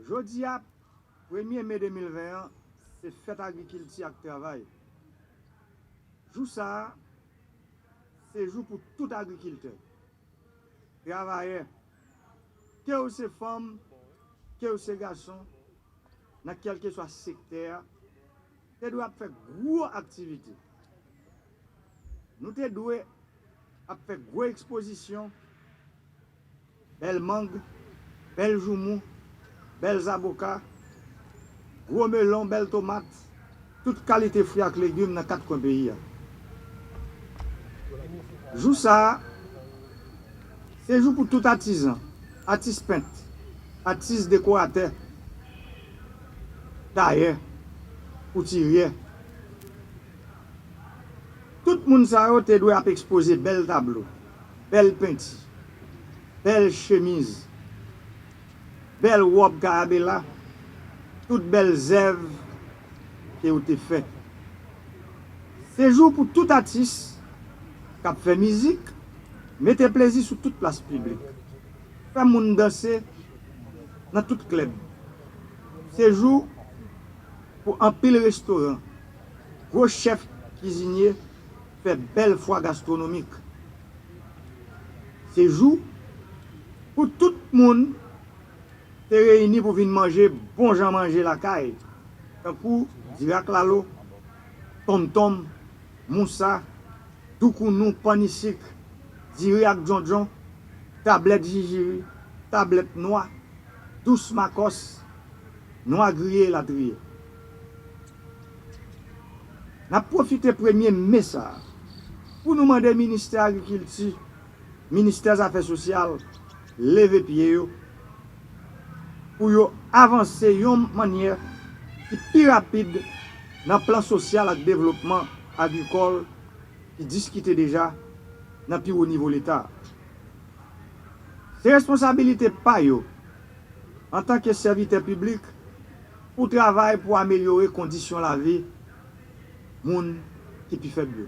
Jodi a, premye me 2020 an, se fèt agrikilti ak travay. Jou sa a, se jou pou tout agrikiltè, travayè, ke ou se fanm, ke ou se gason, nan kèlkeswa sektè a, te dwe ap fè gwo aktivite. Nou te dwe. ap fè gwo ekspozisyon, bèl mang, bèl joumou, bèl zaboka, gwo melon, bèl tomat, tout kalite fwi ak legim nan kat kwen peyi a. Jou sa a, se jou pou tout atizan, atis pent, atis dekoratè, tayè, koutiryè. Tout moun sa yo te dwe ap ekspoze bèl tablo, bèl penti, bèl chemiz, bèl wòb kayabela, tout bèl zèv ke yo te fè. Se jou pou tout atis k ap fè mizik mete plezi sou tout plas piblik, fè moun danse nan tout klèb. Se jou pou anpil restoran. Gwo chèf kizinye fè bèl fwa gastronomik. Se jou pou tout moun te reyini pou vin manje bon jan manje lakay, tankou dirak lalo, tonmtonm, mousa, doukounou, pannisik, diri ak djondjon, tablèt jijiri, tablèt nwa, dous makòs, nwa griye elatriye. N ap pwofite premye me sa a pou nou mande Ministè Agrikilti, Ministè Zafè Sosyal leve pye yo pou yo avanse yon mannyè ki pi rapid nan plan sosyal ak devlopman agrikòl ki diskite deja nan pi wo nivo Leta a. Se responsabilite pa yo antanke sèvitè piblik Ou travay pou amelyore kondisyon lavi moun ki pi fèb yo.